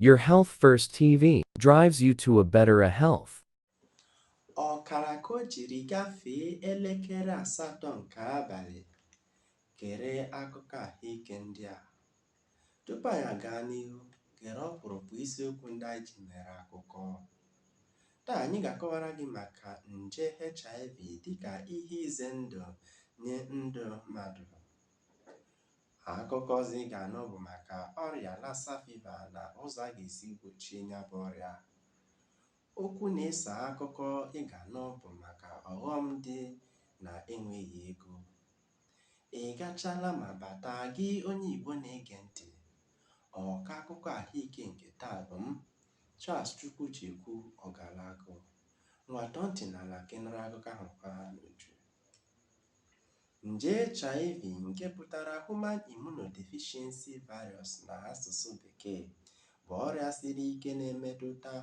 Your Health First TV drives you to a better health. Ọkara ka o jiri gafee elekere asatọ nke abalị, gere akụkọ ahụike ndị a. Tupu anyị agaa n'ihu, gere ọkpụrụkpụ isiokwu ndị anyị ji mere akụkọ. Taa anyị ga-akọwara gị maka nje HIV dịka ihe ize ndụ nye ndụ mmadụ. Akụkọ ọzọ ị ga-anụ bụ maka ọrịa Lassa Fever na ụzọ a ga-esi gbochie ya bụ ọrịa. Okwu na-eso akụkọ ị ga-anụ bụ maka ọghọm dị na enweghị ego. Ị gachaala ma bata, gị onye Igbo na-ege ntị, ọkọ akụkọ ahụike nke taa bụ m, Charles Chukwujekwu Ogalagu. Ngwa tọọ ntị n'ala ka ị nụrụ akụkọ ahụike a n'uju. Nje HIV nke pụtara Human Immunodeficiency Virus n'asụsụ Bekee bụ ọrịa siri ike na-emetụta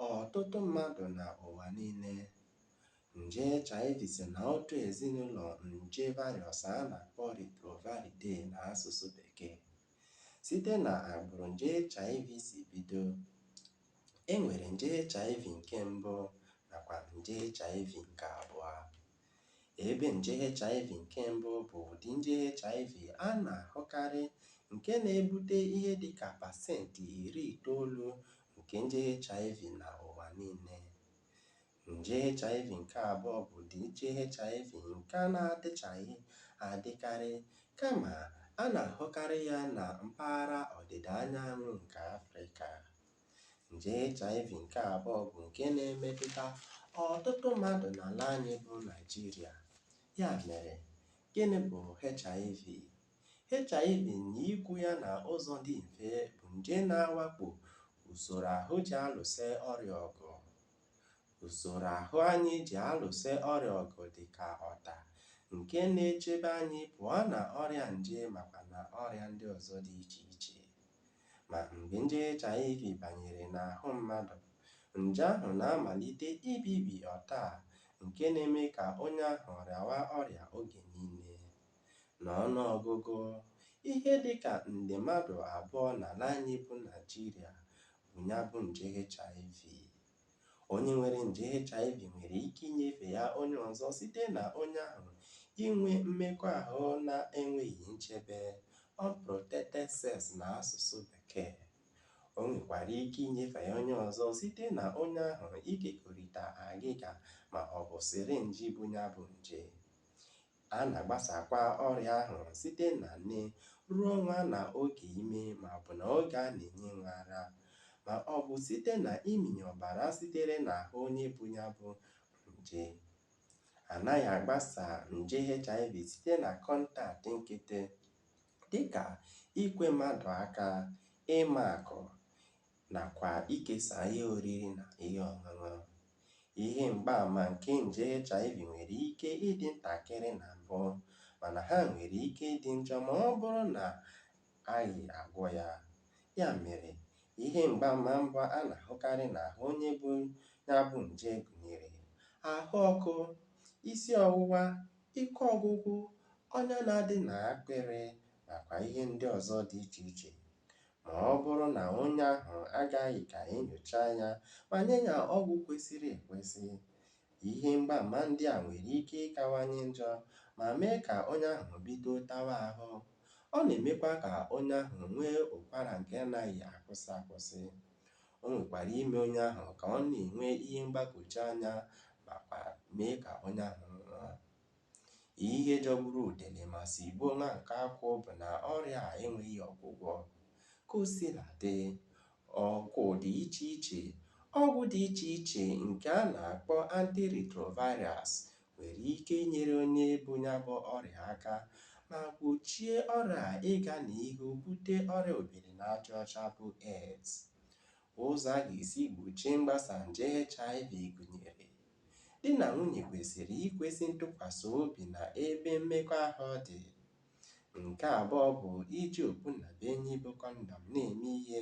ọtụtụ mmadụ na ụwa niile. Nje HIV si na otu ezinụlọ nje virus a na-akpọ Retroviridae n'asụsụ Bekee. Site na agbụrụ nje HIV si bido, e nwere nje HIV nke mbụ nakwa nje HIV nke abụọ. Ebe nje HIV nke mbụ bụ ụdị nje HIV a na-ahụkarị nke na-ebute ihe dị ka pasenti iri itoolu nke nje HIV na ụwa niile. Nje HIV nke abụọ bụ ụdị nje HIV nke a na-adịchaghị adịkarị kama a na-ahụkarị ya na mpaghara ọdịda anyanwụ nke Afrịka. Nje HIV nke abụọ bụ nke na-emetụta ọtụtụ mmadụ n'ala anyị bụ Naịjirịa. Ya mere, gịnị bụ HIV? HIV na ikwu ya na ụzọ dị mfe bụ nje na-awakpo usoro ahụ ji alụso ọrịa ọgụ. Usoro ahụ anyị ji alụso ọrịa ọgụ dị ka ọta nke na-echebe anyị pụọ na ọrịa nje makwa na ọrịa ndị ọzọ dị iche iche. Ma mgbe nje HIV banyere n'ahụ mmadụ, nje ahụ na-amalite ibibi ọta a nke na-eme ka onye ahụ rịawa ọrịa oge niile. N'ọnụ ọgụgụ, ihe dị ka nde mmadụ abụọ n'ala anyị bụ Naịjirịa bu ya bụ nje HIV. Onye nwere nje HIV nwere ike inyefe ya onye ọzọ site na onye ahụ inwe mmekọahụ na-enweghị nchebe, unprotected sex n'asụsụ Bekee. O nwekwara ike inyefe ya onye ọzọ site na onye ahụ ikekọrịta agịga ma ọ bụ sịrịnjị bu ya bụ nje. A na-agbasakwa ọrịa ahụ site na nne ruo nwa na oge ime ma ọ bụ na oge a na-enye nwa ara, ma ọ bụ site na ịmịnye ọbara sitere n'ahụ onye bu ya bụ nje. A naghị agbasa nje HIV site na kọntaktị nkịtị, dị ka ikwe mmadụ aka, ịmakụ, na kwa ikesa ihe oriri na ihe ọṅụṅụ. Ihe mgbaama nke nje HIV nwere ike ịdị ntakịrị na mbụ, mana ha nwere ike ịdị njọ ma ọ bụrụ na aghị agwọ ya. Ya mere, ihe mgbaama mbụ a na-ahụkarị n'ahụ onye bu ya bụ nje gụnyere ahụ ọkụ, isi ọwụwa, ike ọgwụgwụ, ọnya na-adị n'akpịrị, nakwa ihe ndị ọzọ dị iche iche. Ma ọ bụrụ na onye ahụ agaghị ka e nyochaa ya ma nye ya ọgwụ kwesịrị ekwesị, ihe mgbaama ndị a nwere ike ịkawanye njọ ma mee ka onye ahụ bido tawa ahụ. Ọ na-emekwa ka onye ahụ nwee ụkwara nke anaghị akwụsị akwụsị. O nwekwara ime onye ahụ ka ọ na-enwe ihe mgbagwoju anya makwa mee ka onye ahụ nwụọ. Ihe jọgburu udene ma sigbuo nwa nkakwụ bụ na ọrịa a enweghị ọgwụgwọ. Ka o sila dị, ọgwụ dị iche iche ọgwụ dị iche iche nke a na-akpọ antiretrovirals nwere ike inyere onye bu ya bụ ọrịa aka ma gbochie ọrịa a ịga n'ihu bute ọrịa obiri n'aja ọcha bụ AIDS. Ụzọ a ga-esi gbochie mgbasa nje HIV gụnyere. Di na nwunye kwesịrị ikwesị ntụkwasị obi na ebe mmekọahụ dị. Nke abụọ bụ iji okpu nnabuenyi bụ kọndọm na-eme ihe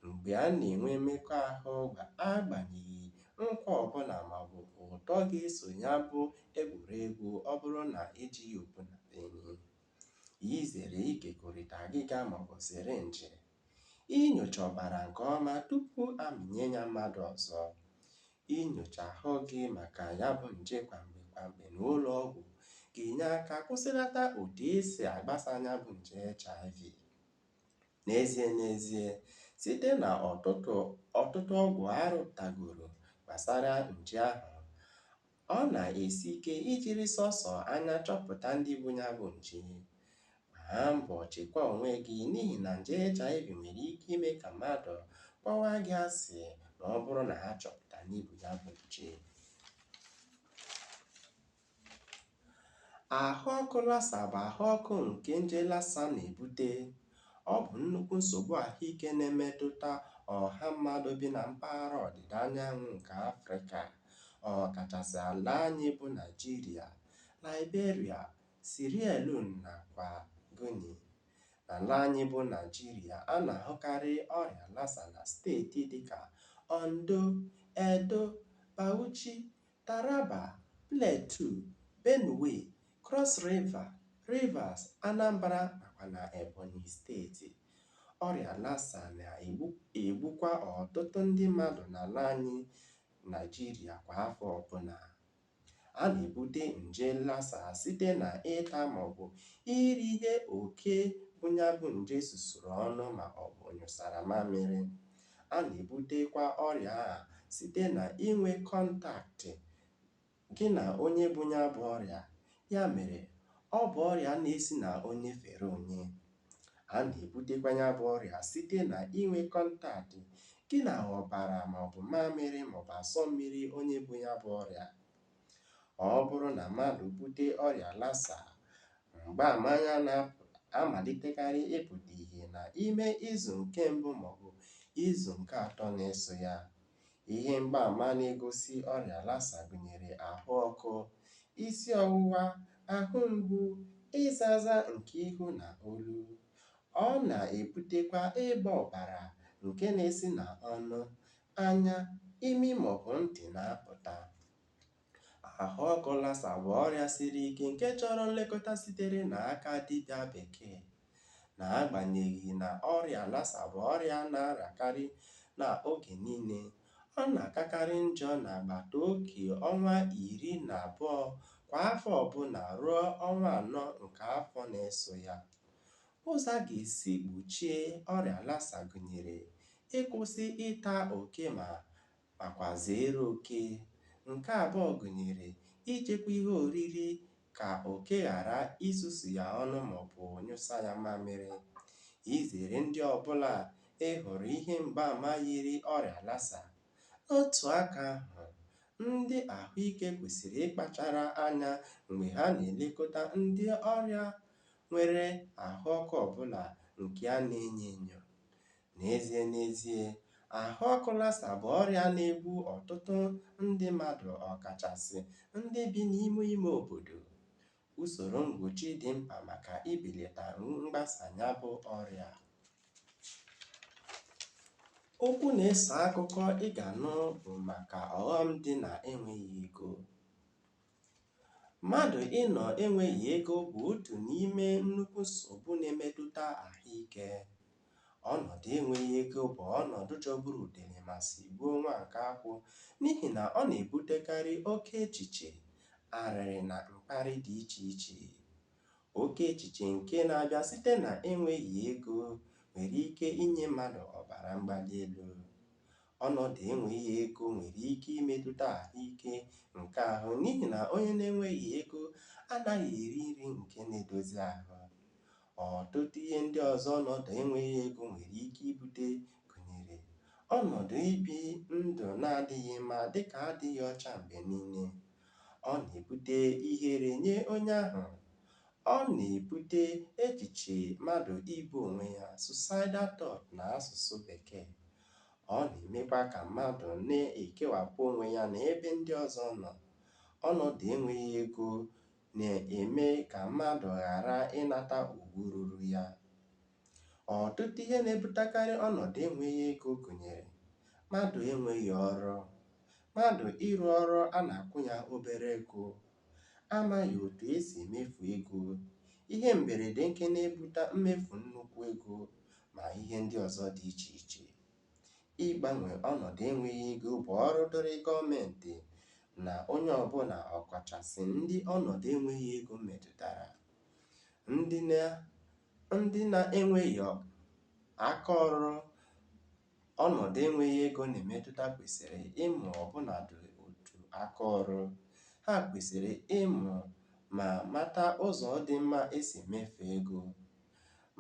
mgbe a na-enwe mmekọahụ agbanyeghị nkwa ọbụla maọbụ ụtọ ga-eso ya bụ egwuregwu ọ bụrụ na ejighị okpu nnabuenyi. Izere ikekọrịta agịga maọbụ sịrịnjị. Inyocha ọbara nke ọma tupu a mịnye ya mmadụ ọzọ. Inyocha ahụ gị maka ya bụ nje kwa mgbe kwa mgbe n'ụlọ ọgwụ ga-enye aka kwụsịlata otu e si agbasa ya bụ nje HIV. N'ezie n'ezie, site na ọtụtụ ọgwụ a rụpụtagoro gbasara nje ahụ, ọ na-esi ike ijiri sọsọ anya chọpụta ndị bu ya bụ nje. Gbaa mbọ chekwaa onwe gị n'ihi na nje HIV nwere ike ime ka mmadụ kpọwa gị asị ma ọ bụrụ na a chọpụta na i bu ya bụ nje. Ahụ ọkụ Lassa bụ ahụ ọkụ nke nje Lassa na-ebute. Ọ bụ nnukwu nsogbu ahụike na-emetụta ọha mmadụ bi na mpaghara ọdịda anyanwụ nke Afrịka, ọkachasị ala anyị bụ Naịjirịa, Liberia, Sierra Leone nakwa Guinea. N'ala anyị bụ Naịjirịa, a na-ahụkarị ọrịa Lassa na steeti dịka Ondo, Edo, Bauchi, Taraba, Plateau, Benue, Cross River, Rivers, Anambra nakwa na Ebonyi steeti. Ọrịa Lassa na-egbukwa ọtụtụ ndị mmadụ n'ala anyị Naịjirịa kwa afọ ọbụla. A na-ebute nje Lassa site na ịta ma ọ bụ iri ihe oke bu ya bụ nje susuru ọnụ ma ọ bụ nyụsara mamịrị. A na-ebutekwa ọrịa a site na inwe kọntaktị gị na onye bu ya bụ ọrịa, ya mere ọ bụ ọrịa na-esi na onye fere onye. A na-ebutekwa ya bụ ọrịa site na inwe kọntaktị gị na ọbara ma ọ bụ mamịrị ma ọ bụ asọ mmiri onye bu ya bụ ọrịa. Ọ bụrụ na mmadụ bute ọrịa Lassa, mgbaama ya na-amalitekarị ịpụta ihe na ime izu nke mbụ ma ọ bụ izu nke atọ na-eso ya. Ihe mgbaama na-egosi ọrịa Lassa gụnyere ahụ ọkụ, isi ọwụwa, ahụ mgbu, ịza aza nke ihu na olu. Ọ na-ebutekwa ịgba ọbara nke na-esi na ọnụ, anya, imi maọbụ ntị na-apụta. Ahụ ọkụ Lassa bụ ọrịa siri ike nke chọrọ nlekọta sitere na aka dibịa bekee. Na agbanyeghị na ọrịa Lassa bụ ọrịa a na-arịakarị na oge niile, ọ na-akakarị njọ na agbata oge ọnwa iri na abụọ kwa afọ ọbụla ruo ọnwa anọ nke afọ na-eso ya. Ụzọ a ga-esi gbochie ọrịa Lassa gụnyere ịkwụsị ịta oke ma Nakwa zeere oke. Nke abụọ gụnyere ichekwa ihe oriri ka oke ghara isusu ya ọnụ ma ọ bụ nyụsa ya mamịrị. Izere ndị ọ bụla ị hụrụ ihe mgbaama yiri ọrịa Lassa. N'otu aka ahụ, ndị ahụ ike kwesịrị ịkpachara anya mgbe ha na-elekọta ndị ọrịa nwere ahụ ọkụ ọ bụla nke a na-enyo enyo. N'ezie n'ezie, ahụ ọkụ Lassa bụ ọrịa na-egbu ọtụtụ ndị mmadụ ọkachasị ndị bi n'ime ime obodo. Usoro mgbochi dị mkpa maka ibeleta mgbasa ya bụ ọrịa. Okwu na-eso akụkọ ị ga-anụ bụ maka ọghọm dị na enweghị ego. Mmadụ ịnọ enweghị ego bụ otu n'ime nnukwu nsogbu na-emetụta ahụike. Ọnọdụ enweghị ego bụ ọnọdụ jọgburu udele ma sigbuo nwa nkakwụ n'ihi na ọ na-ebutekarị oke echiche, arịrị na mkparị dị iche iche. Oke echiche nke na-abịa site na enweghị ego nwere ike inye mmadụ ọbara mgbali elu. Ọnọdụ enweghị ego nwere ike imetụta ahụ ike nke ahụ n'ihi na onye na-enweghị ego anaghị eri nri nke na-edozi ahụ. Ọtụtụ ihe ndị ọzọ ọnọdụ enweghị ego nwere ike ibute gụnyere, ọnọdụ ibi ndụ na-adịghị mma dị ka adịghị ọcha mgbe nile, ọ na-ebute ihere nye onye ahụ, ọ na-ebute echiche mmadụ igbu onwe ya, suicidal thought na asụsụ Bekee, Ọ na-emekwa ka mmadụ na-ekewapụ onwe ya na ebe ndị ọzọ nọ. Ọnọdụ enweghị ego na-eme ka mmadụ ghara ịnata ugwu ruru ya. Ọtụtụ ihe na-ebutekarị ọnọdụ enweghị ego gụnyere, mmadụ enweghị ọrụ, mmadụ ịrụ ọrụ a na-akwụ ya obere ego, amaghị otu e si emefu ego, ihe mberede nke na-ebuta mmefu nnukwu ego, ma ihe ndị ọzọ dị iche iche. Ịgbanwe ọnọdụ enweghị ego bụ ọrụ dịrị gọọmentị na onye ọbụla ọkachasị ndị ọnọdụ enweghị ego metụtara, ndị na ndị na-enweghị aka ọrụ Ọnọdụ enweghị ego na-emetụta kwesịrị ịmụ ọbụnadị otu aka ọrụ. Ha kwesịrị ịmụ ma mata ụzọ dị mma e si emefu ego.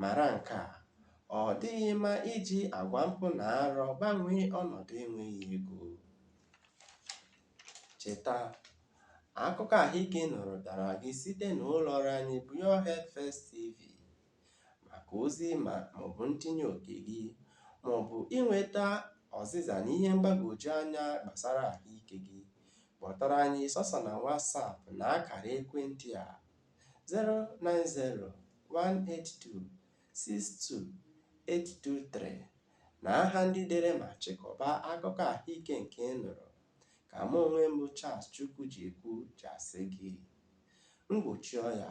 Mara nke a, Ọ dịghị mma iji agwa mpụ na arụ gbanwee ọnọdụ enweghị ego. Cheta, Akụkọ ahụike ị nụrụ bịara gị site na ụlọọrụ anyị bụ Your Health First TV. maka ozi ịma maọbụ ntinye oke gị, maọbụ inweta ọzịza na ihe mgbagwoju anya gbasara ahụike gị, kpọtụrụ anyị sọsọ na WhatsApp na akara ekwentị a 090-182-62823 na aha ndị dere ma chịkọba akụkọ ahụike nke ị nụrụ ka mụ onwe m bụ Charles Chukwujekwu ji asị gị mgbochi ọya